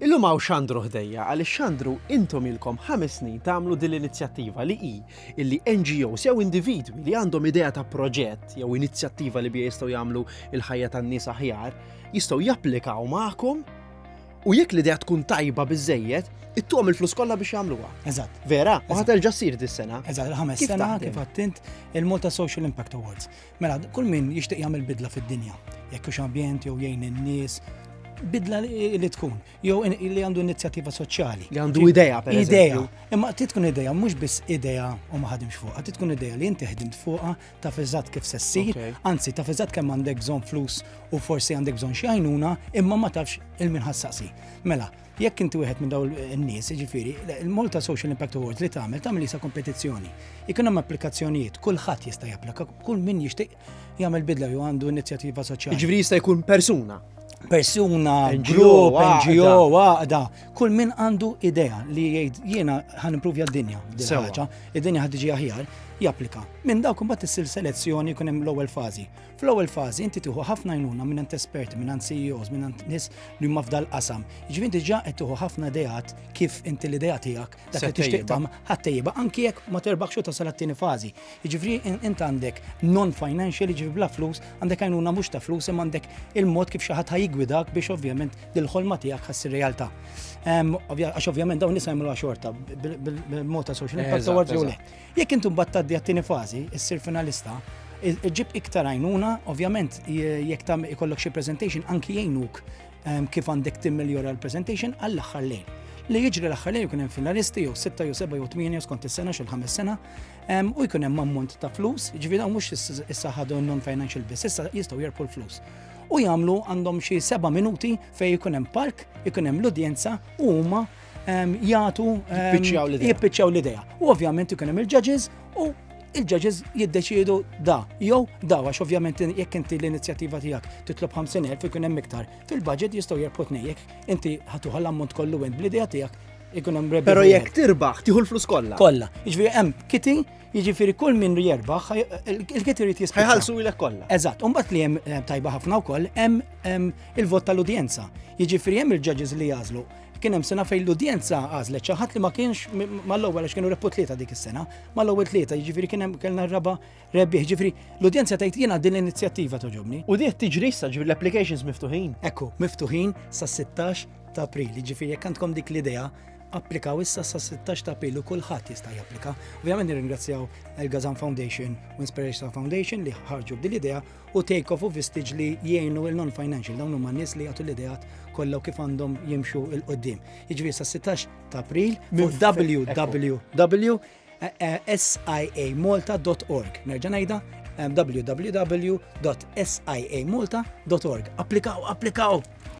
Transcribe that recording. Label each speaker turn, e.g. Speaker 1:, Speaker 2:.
Speaker 1: Illum hawn xandru ħdejja għaliex xandru intom ilkom ħames snin tagħmlu din l-inizjattiva li hi illi NGOs jew individwi li għandhom idea ta' proġett jew inizjattiva li biha jistgħu jagħmlu l-ħajja tan-nies aħjar jistgħu japplikaw magħkom u jekk l-idea tkun tajba biżżejjed ittuhom il-flus kollha biex jagħmluha. Eżatt. Vera? U
Speaker 2: ħaterġa' ssir
Speaker 1: dis-sena. Eżatt, il-ħames sena
Speaker 2: kif għattint
Speaker 1: il-Malta
Speaker 2: Social Impact Awards. Mela, kull min jixtieq jagħmel bidla fid-dinja, jekk hux ambjent jew jgħin in-nies, bidla li tkun, jew li għandu inizjattiva soċjali. Li għandu idea, per
Speaker 1: Idea. Imma ti tkun
Speaker 2: idea, mhux biss idea u ma ħadimx fuqha, ti tkun idea li inti ħdimt fuqha ta' fiżat kif se ssir, anzi ta' fiżat
Speaker 1: kemm
Speaker 2: għandek bżonn flus u forsi għandek bżonn xi għajnuna, imma ma tafx il-min ħassaqsi. Mela, Jekk inti wieħed minn dawn in-nies, jiġifieri, il-Malta Social Impact Awards li tagħmel tagħmel isa kompetizzjoni. Ikun hemm applikazzjonijiet, kulħadd jista' japplika, kull min jixtieq jagħmel bidla jew għandu inizjattiva soċjali. Jiġifieri jista' jkun persuna.
Speaker 1: Persuna,
Speaker 2: grupp,
Speaker 1: NGO,
Speaker 2: għaqda, kull min għandu idea li jgħid jiena ħan improvja d-dinja,
Speaker 1: id-dinja ħad tiġi
Speaker 2: aħjar, japplika. Minn dawk imbagħad issir selezzjoni jkun hemm l-ewwel fażi. Fl-ewwel fażi inti tieħu ħafna għajnuna minn ant esperti, minn ant CEOs, minn ant nies li huma f'dal qasam. Jiġifieri diġà qed tieħu ħafna ideat kif inti l-idea tiegħek dak li tixtieq tagħmel
Speaker 1: ħattejba
Speaker 2: anki jekk ma terbaħx u tasal għat-tieni fażi. Jiġifieri int għandek non-financial, jiġifieri bla flus, għandek għajnuna mhux ta' flus imma għandek il-mod kif xi ħadd ħajigwidak biex ovvjament dil-ħolma tiegħek ħassi realtà. Għax ovvjament dawn nisa jagħmluha xorta bil-mod ta' social impact awards jew le. Jekk
Speaker 1: inti
Speaker 2: mbagħad tgħaddi
Speaker 1: għat-tieni
Speaker 2: fażi, issir finalista, ġib iktar għajnuna, ovvjament jekk tam ikollok xi presentation anki jgħinuk ehm, kif għandek timmiljora l-presentation għall-aħħar lejn. Li jiġri l-aħħar lejn jkun hemm finalisti jew 6 jew 7 jew 8 skont is-sena xi ħames sena ehm, u jkun hemm ammont ta' flus, ġifieri hawn mhux issa ħadu non-financial biss, issa jistgħu jerpu l-flus u jagħmlu għandhom xi seba' minuti fejn ikun hemm park, ikun hemm l-udjenza u huma jgħatu
Speaker 1: jippiċċaw l-idea. U
Speaker 2: ovvjament ikun hemm il-judges u il-ġaġiż jiddeċiedu da, jew da, għax ovvjament jekk inti l-inizjattiva tiegħek titlob 50,000 ikun hemm iktar. Fil-budget jistgħu jerbħu tnejjek, inti ħatuħa l-ammont kollu għend bl-idea tiegħek ikun hemm rebbi. Però jekk tirbaħ, tieħu l-flus
Speaker 1: kollha. Kollha. Jiġifieri hemm
Speaker 2: kiti, jiġifieri kull min jerbaħ, il-kiti jrid jisbħ. Ħajħallsu ilek kollha. Eżatt,
Speaker 1: u mbagħad li hemm
Speaker 2: eh, tajba ħafna wkoll hemm il-vot tal-udjenza. Jiġifieri hemm il-ġaġiż li jażlu Kien hemm sena fejn l-udjenza għażlet xi ħadd li ma kienx mal-ewwel għax kienu rebħu tlieta dik is-sena, mal-ewwel tlieta, jiġifieri kien hemm kellna r-raba' rebbieħ, jiġifieri l-udjenza tgħid jiena din l-inizjattiva toġobni. U diet tiġri issa ġifieri
Speaker 1: l-applications miftuħin. Ekku, miftuħin
Speaker 2: sas-16 ta' April, jiġifieri jekk għandkom dik l-idea, applikaw issa sa 16 ta' pilu kulħadd jista' japplika. Ovvjament nirringrazzjaw il-Gazan Foundation u Inspiration Foundation li ħarġu b'dil idea u take off u vistage li jgħinu il-non-financial, dawn huma nies li jagħtu l-ideat kollha kif għandhom jimxu il qoddim Jiġri sa 16 ta' April fuq www.siamolta.org. Nerġa' ngħidha www.siamolta.org. Applikaw, applikaw!